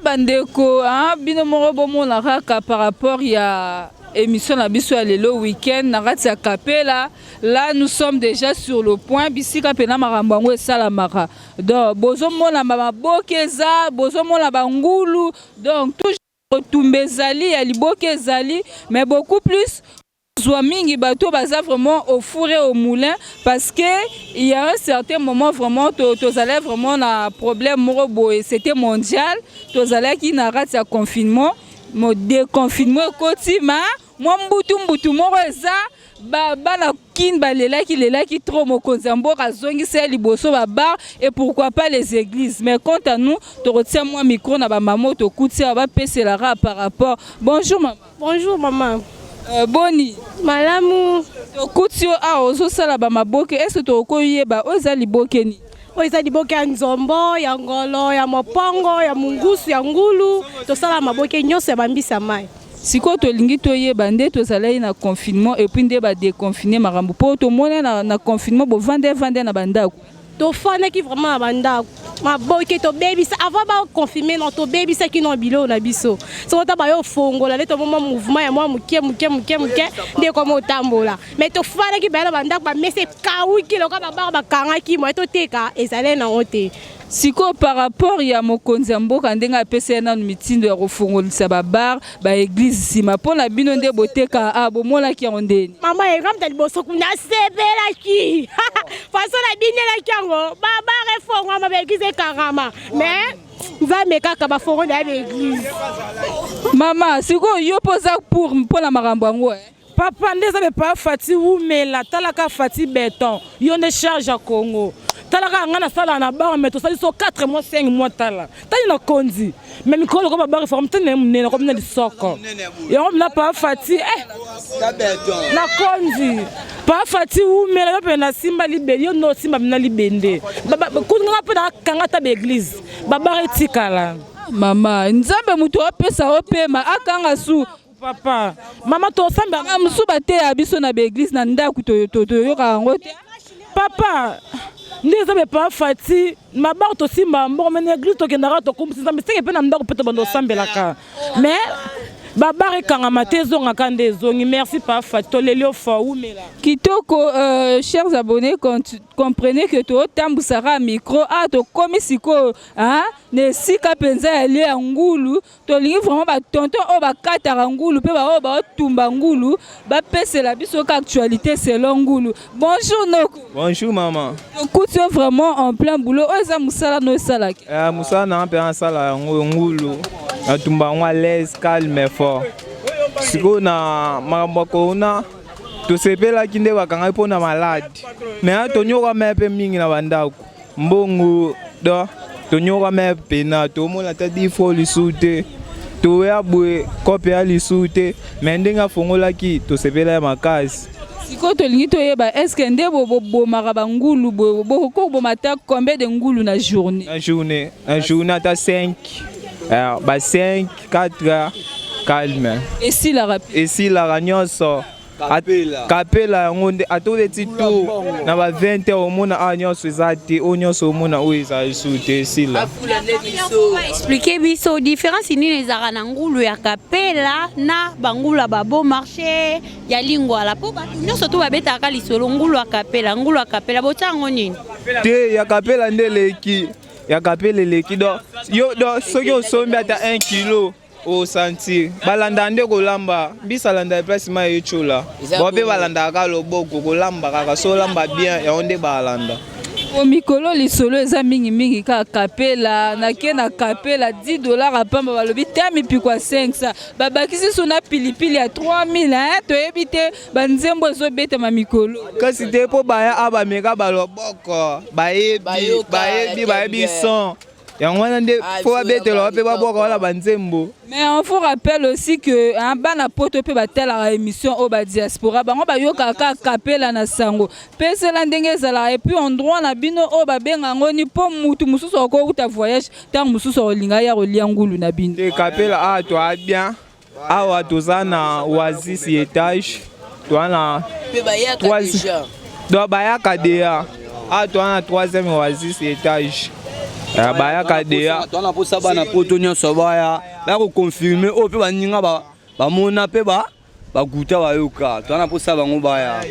bandeko ah, bino moko bomona kaka par rapport ya émission na biso ya lelo week-end na kati ya kapela Là, nous sommes déjà sur le point bisika pena makambo yango esalamaka donc bozomona bamaboke eza bozomona bangulu donc toujours kotumba ezali ya liboke ezali mais beaucoup plus zwa mingi bato baza vraiment au four et au moulin parce que il y a un certain moment vraiment tozalaki vraiment na problème moko boye c'était mondial tozalaki na kati ya confinement mo déconfinement ekoti ma mwa mbutu mbutu moko eza bana kin balelaki lelaki trop mokonzi ya mboka azongisi ya liboso babar et pourquoi pas les églises mais quant à nous tokotia mwa micro na bamama oyo tokuti awa bapeselaka par rapport bonjour mama bonjour mama Euh, boni malamu tokuti yo awa ozosala bamaboke ese tokoyeba oyo eza libokeni oyo eza liboke ya nzombo ya ngolo ya mopongo ya mongusu ya ngulu tosala maboke nyonso ya bambisa mai sikoyo tolingi toyeba nde tozalaki na confinement epuis nde badeconfine makambo mpo tomona na, na confinement bovanda evanda na bandako tofandaki vraiment na bandako maboke tobebisa avant baconfirme no tobebisaki no biloko na biso soko ta bayo ofongola nde tomoma mouvement ya mwa moke moke moke moke nde ekoma otambola mai tofandaki baya na bandako bamesa ekawuki lokola babaka bakangaki moye toteka ezalai nango te Siko par rapport ya mokonzi ya mboka ndenge apesa ye nanu mitindo ya kofongolisa ba bar ba eglise nsima mpo na bino nde boteka a bomonaki yango ndeni mama ekamta liboso kuna asepelaki faso na binelaki yango ba bar efongwama ba eglise ekangama mais nzambe kaka bafongo na ya ba eglise mama sikoyo yo mpo oza pour mpo na makambo yango eh? Papa nde eza bepa Fati wumela talaka Fati beton yo nde charge ya Congo talaka nga nasala na bar mais tosali so 4 mois 5 mois tala tani na konzi mais mikolo ko babar forme tani na munene ko mina lisoko yango mina pa Fati eh na konzi pa Fati wumela yo pe na simba libeli yo no simba mina libende kutu nga pe na kanga ta be église babar etikala mama nzambe mutu apesa opema akanga su Papa, mama tosamba. Mama mosusu bateya biso na baeglise na ndako toyoka yango te. Papa, nde eza mpe pa fati mabango tosimbaka mbongo me na eglise tokendaka tokumbisi nzambe seke mpe na ndako mpe tobanda osambelaka me babare ekangama te ezongaka nde ezongi merci pa fati toleli yo fo wumela kitoko euh, chers abonnés comprenez que totambusaka micro a ah, tokomi sikoyo na esika mpenza ya lie ya ngulu tolingi vraiment ba tonton oyo bakataka ngulu mpe baoyo baotumba ngulu bapesela biso ka actualité selon ngulu bonjour noko bonjour mama tokuti yo vraiment en plein boulot oyo eza mosala no osalaki uh, eh, mosala nanga mpe nasala yango ngulu natumba yango alaise calme fort sikoyo na makambo ya korona tosepelaki nde bakangaki mpo na malade me atonyoka me mpe mingi na bandako mbongo do tonyoka me pena tomona ata difo lisusu te toya boye kope ya lisusu te me ndenge afongolaki tosepela ya makasi sikoyo tolingi toyeba estce nde bobomaka bangulu bokoki koboma ata combien de ngulu na journée na journée na journée ata 5 eh, ba 5 4 calme esilaka esilaka nyonso kapela yango nde atoleti tu na ba 20 heures omona awa ah, nyonso eza te oyo nyonso omona oyo eza esu te esila explike biso différence nini ezalaka na ngulu ya kapela na bangulu ya babo marché ya lingwala mpo bato nyonso to babetaka lisolo ngulu ya kapela ngulu ya kapela botya yango nini te ya kapela nde eleki ya kapela eleki do yo do soki osombi ata 1 kilo o sentir balandaka nde kolamba mbisa alandaka place mai ecola bo mpe balandaka kaka loboko kolamba kaka so olamba bien yango nde balanda po mikolo lisolo eza mingimingi kaka kapela nake na kapela 10 dollar apamba balobi te mipiko ya 500 babakisi so na pilipili ya 3000 toyebi te banzembo ezobetama mikolo kasi te mpo baya a bameka baloboko bayebi bayebi bayebi son yango wana nde ah, mpo babetela wape babwaka wana banzembo mais on vous rappelle aussi que hein, bana poto mpe batalaka émission oyo badiaspora bango bayokaka kaka kapela na sango mpe zela ndenge ezalaka epuis endroit na bino oyo babenga yango ni mpo motu mosusu akouta voyage ntango mosusu akolinga ya kolia ngulu na bino kapela awa ah, toa bien Awa toza na Oasis etage toza na donc bayaka deya awa toza na troisième Oasis etage eh, bayaka deya toza na posa bana poto nyonso baya baya koconfirme oyo mpe baninga bamona mpe ba bakuta bayoka twana mposa bango baya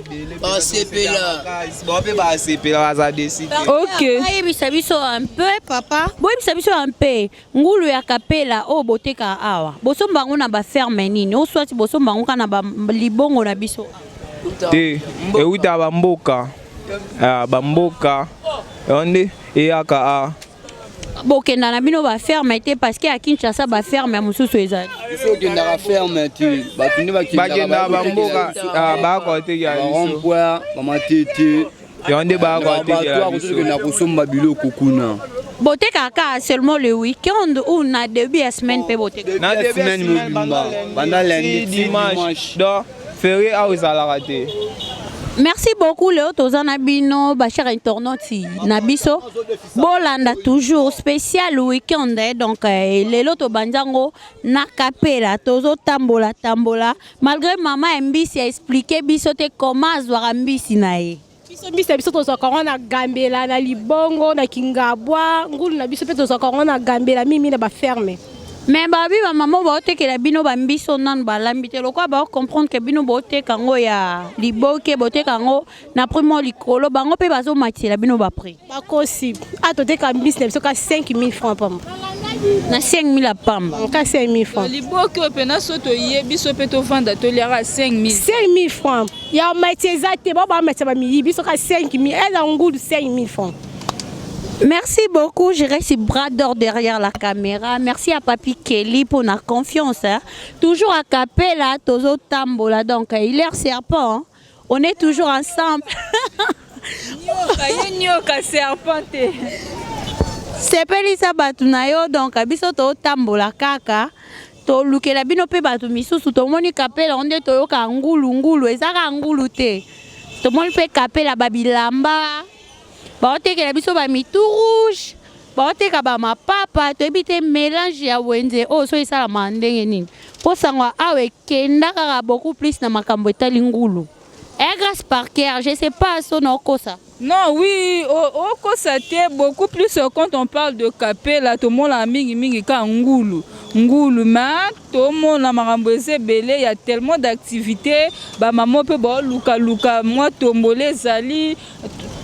basepelape basepela baza desayebisa biso un peu papa boyebisa biso un peu Ngulu ya kapela oyo botekaka awa bosomba yango na baferme nini o swati bosomba yango kaka na libongo na biso te ewuta bamboka ah, bamboka yango nde eyaka a ah. bokenda na bino baferme te parceke ya kinshasa baferme mosusu ezali bakendaka bamboka ah, bakotekela biso yango nde bayakoatekela biso na kosomba biloko kuna botekaka kaka seulement le week-end ou na début ya semaine mpe botekaka na début ya semaine mobimba banda lundi dimanche donc ferie awa ezalaka te merci beaucoup leo toza na bino bachar internauti na biso bolanda toujours spécial week-end eh, donc eh, lelo tobandi yango na kapela tozotambola tambola Malgré maman ya mbisi a expliquer biso te comment azwaka mbisi na ye. biso mbisi na biso tozwaka yango na gambela na libongo na kingabwa ngulu na biso mpe tozwaka yango na gambela mingi na baferme me babi bamama oyo baotekela bino bambiso nano balambi te lokola bao comprendre ke bino boteka yango ya liboke boteka yango na prix moko likolo bango mpe bazomatisela bino baprix bakosi a ah, toteka mbisi na biso ka 5000 franc pamba na 5000 ya pamba ka 5000 franc liboki oyo mpena so toye biso mpe tovanda toliaka 5000 5000 franc ya mati eza te bao bamatisa bamiyi biso ka 5000 eza ngulu 5000 franc Merci beaucoup, je reste bras d'or derrière la caméra. Merci à Papi Kelly pour la confiance. Hein. Toujours à Capella, Tozo Tambola, donc il est serpent. Hein. On est toujours ensemble. nyoka ye nyoka serpent te. sepelisa bato na yo donc biso totambola kaka tolukela bino mpe bato misusu tomoni kapela yango nde toyoka ngulu ngulu ezaka ngulu te tomoni mpe kapela babilamba baotekela biso ba mitu rouge baoteka ba mapapa toyebi te melange ya wenze oyo so esalama ndenge nini mpo sango awa ekenda kaka beaucoup plus na makambo etali ngulu eh, grace parker je sais pas so naokosa Non, oui, au, au Kosate, beaucoup plus euh, quand on parle de Capella, tout le monde a mingi mingi ka Ngoulou. Ngoulou, mais Tomona makambo eza ebele ya tellement d'activité ba maman pe ba luka luka mwa tombole ezali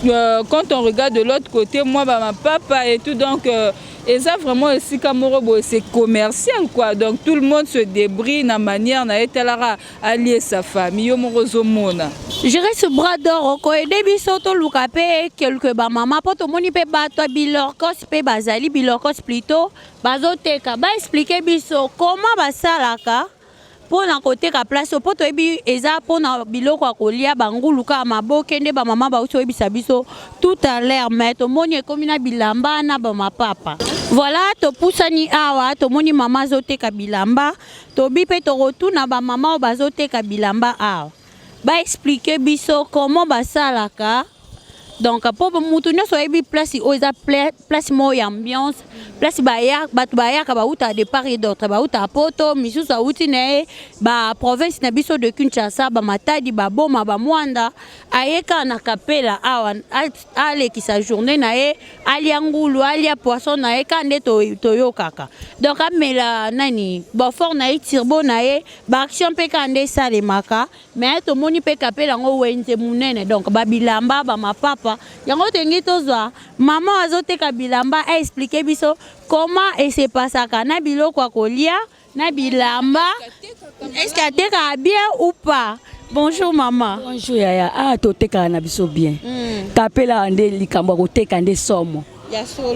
euh, quand on regarde de l'autre côté mwa ba mapapa et tout donc euh, eza vraiment esika moko boye c'est commercial quoi donc tout le monde se débrie na manière na ye talaka alie sa famille yo moko ozomona je reste bras d'or okoede biso toluka mpe quelque bamama mpo tomoni mpe bato ya bilorcos mpe bazali bilorcos plutôt bazoteka ba expliquer biso comment basalaka mpo na koteka place oyo mpo toyebi eza mpo na biloko ya kolia bangulu kaka maboke nde bamama bauti oyebisa biso tout à l'heure mais tomoni ekomi na bilamba na bamapapa voilà topusani awa tomoni mama azoteka bilamba tobi mpe tokotuna bamama oyo bazoteka bilamba awa ba expliquer biso comment basalaka donc mpo motu nyonso ayebi place oyo eza place moko ya ambiance place bato bayaka bauta de part et d'autre bauta poto misusu auti na ye baprovince na biso de kinshasa bamatadi baboma bamwanda aye kaka na kapela awa alekisa journée na ye alia ngulu alia poisson na ye kaka nde toyokaka donc amela nani bofort na ye tirbo na ye ba action mpe kaka nde esalemaka mais tomoni mpe kapela yango wenze monene donc babilamba bamapapa yango tolingi tozwa mama oyo azoteka bilamba aexplike biso koma esepasaka na biloko ya kolia na bilamba eske atekaka bien ou pas bonjour mama bonjour yaya ah totekaka na biso bien mm. kapela nde likambo ya koteka nde somo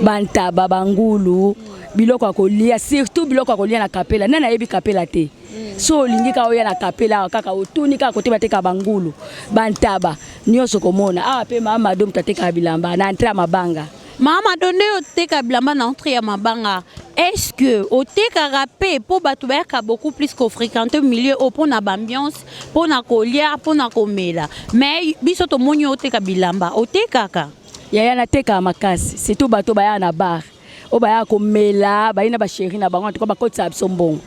ba ntaba ba ngulu biloko ya kolia surtout biloko ya kolia na kapela nani ayebi kapela te mm. so olingi kaka oya na kapela awa kaka otuni kaka kote bateka bangulu bantaba nyonso komona awa mpe mama do moto atekaka bilamba na entre ya mabanga mama do nde oteka bilamba na entre ya mabanga est-ce que otekaka mpe mpo bato bayaka beaucoup plus kofréquente milieu oyo mpo na baambiance mpo na kolia mpo na komela mais biso tomoni oteka bilamba otekaka Yaya na teka makasi, c'est tout bato baya na bar. Oyo baya ko mela, bayi na ba chérie na bango, en tout cas bakotisa biso mbongo.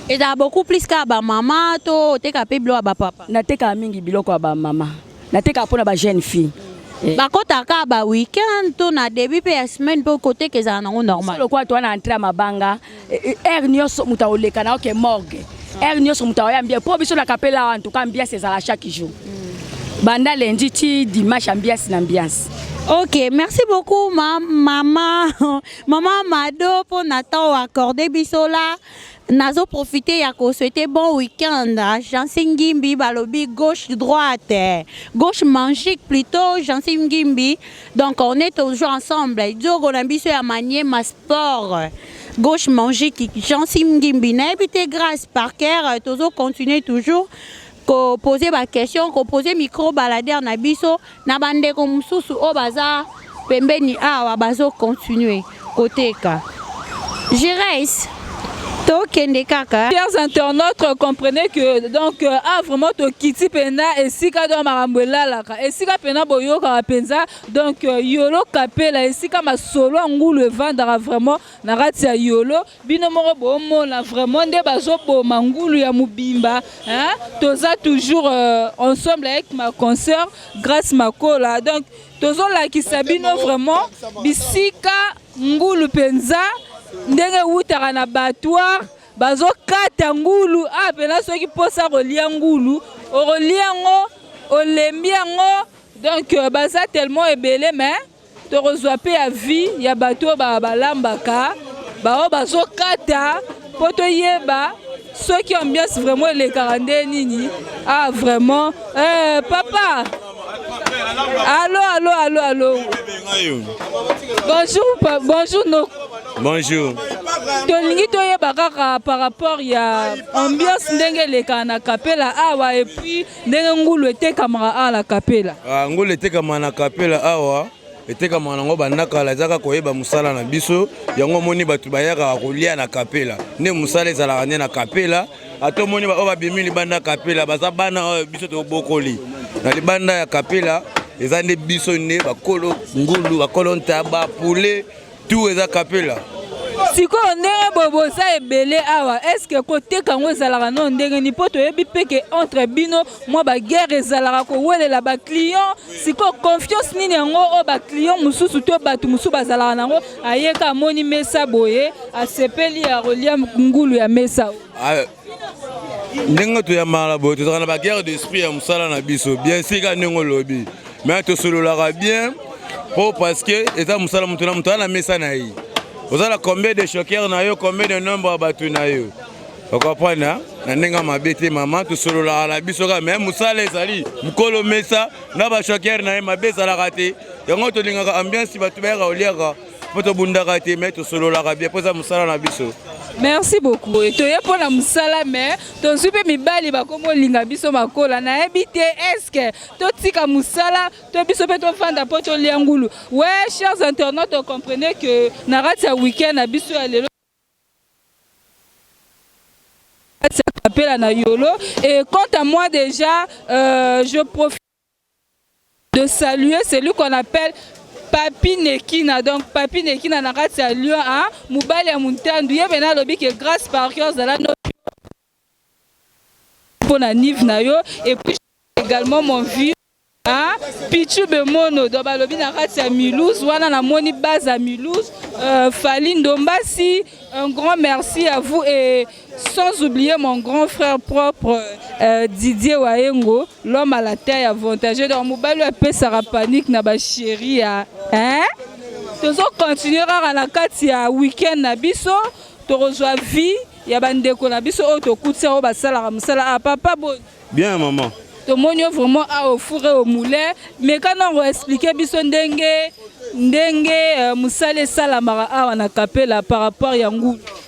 Ezala beaucoup plus ka ba mama to teka pe bilo ba papa. Na teka mingi biloko ya ba mama. Na teka pona ba jeune fille. Eh. Ba kota ka ba week-end to na début pe ya semaine pe koteka ezala nango normal. Solo kwa to na entrée ya mabanga. heure nyonso moto akoleka na oke morgue heure nyonso moto akoya mbia mpo biso na kapela wana tuka ambiance ezala chaque jour mm. banda lundi ti dimanche ambiance na ambiance Ok, merci beaucoup ma, maman, maman Mado pour notre temps accordé bisola. Nazo profiter ya ko souhaiter bon week-end. Jansim Gimbi balobi gauche droite, gauche magique plutôt Jansim Gimbi. Donc on est toujours ensemble. Diogo na biso ya manier mas Fort. Gauche manger qui Jancy Mgimbi nayebi te grâce par cœur euh, tozo continuer toujours ko poser ba question ko poser micro balader na biso na bandeko mosusu oyo baza pembeni awa bazo continuer koteka Gires tokende kaka chers internautes comprenez que donc euh, ah vraiment tokiti mpena esika donc makambo elalaka esika mpena boyokaka mpenza donc euh, yolo kapela esika masolo ya ngulu evandaka vraiment na kati ya yolo bino moko bomona vraiment nde bazoboma ngulu ya mobimba hein? toza toujours euh, ensemble avec ma concert grace makola donc tozolakisa bino vraiment bisika ngulu mpenza ndenge ewutaka na batoire bazokata ngulu apena ah, soki mposa kolia ngulu okolia yango olembi yango Donc euh, baza tellement ebele mais tokozwa pe ya vie ya bato oyo balambaka baoyo bazokata mpo toyeba soki ambiance vraiment elekaka nde nini ah vraiment eh, papa allo allo allo allo bonjour bonjour no bonjour tolingi toyeba kaka par rapport ya ambiance ndenge elekaka na kapela awa epuis ndenge ngulu etekamaka awa na kapela ah, ngulu etekamaka na kapela awa etekamaka nango banda kala ezaka koyeba mosala na biso yango omoni bato bayaka kolia na kapela nde mosala ezalaka nde na kapela ata omoni baoyo babimi libanda ya kapela baza bana oyo biso tobokoli na libanda ya kapela eza nde biso nde bakolo ngulu bakolo ntaba poulet Tout eza kapela. sikoyo ndenge boye boza ebele awa estce koteka yango ezalaka no ndenge nini mpo toyebi mpe ke entre bino mwa baguerre ezalaka kowelela baclient sikoyo confiance nini yango oyo baclient mosusu to bato mosusu bazalaka na yango ayeka amoni mesa boye asepeli ya kolia ngulu ya mesa ah, ndenge toyambana boye tozalaka na baguerre d'esprit ya mosala na biso bien sika ndenge olobi mai tosololaka bien mpo parce que eza mosala moto na moto aa na mesa na ye ozala combien de choqueur na yo combien de nombre ya bato na yo okoprendre na ndenge mabe te mama tosololaka na biso kaka mai mosala ezali mokolo mesa na bachoqueur na ye mabe ezalaka te yango tolingaka ambiance bato bayaka oliaka mpo tobundaka te me tosololaka bie mpo eza mosala na biso merci beaucoup eh, toye mpo na mosala me tozwi mpe mibali bakomi olinga biso makola nayebi te eske totika mosala to biso mpe tofanda mpo tolia ngulu we chers internautes ocomprenez que na kati ya weekend na biso ya lelo appel à Nayolo. Et quant à moi déjà, euh, je profite. de saluer celui qu'on appelle Papi Nekina. Donc Papi Nekina na kati ya Lyon a mobali ya Muntandu ye bena alobi que grâce par cœur zala no pona nive na yo et puis également mon vieux Hein? Pichu Bemono donc balobi na kati ya Mulhouse wana namoni base ya Mulhouse euh, Fally Ndombasi un grand merci à vous et Sans oublier mon grand frère propre euh, Didier Waengo, l'homme à la taille avantagée. Donc, Mobali a fait sa panique na ba chérie. Hein? Tozo continuer à la carte ya week-end na biso. Tokozwa vie ya bandeko na biso oyo tokutisa oyo basalaka mosala a ah, papa boni bien maman tomoni yo vraiment a au four et au moulin meka nango explike biso ndenge ndenge euh, mosala esalamaka awa na kapela par rapport ya ngulu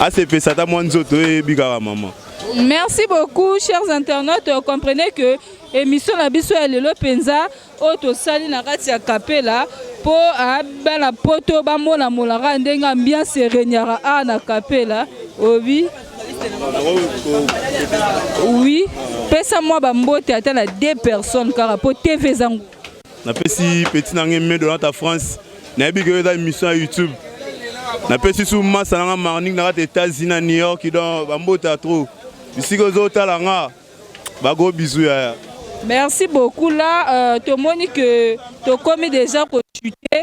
asepesa ata mwa nzoto eyebi kaka mama Merci beaucoup, chers internautes. Comprenez que émission la biso ya lelo penza oyo tosali na kati ya Kapela po ah, bana poto bamona molaka ndenge ambiance eregnaka a na Kapela obi oui pesa mwa bambote ata na deux personnes kaka po TV ezango napesi peti na ngai me donata france nayebi ke eza émission ya youtube napesi su masa na ngai marning na kati états-unis na new york don bambota trop bisika ozotala nga bago bizu yaya merci beaucoup là euh, tomoni que tokomi déjà kochute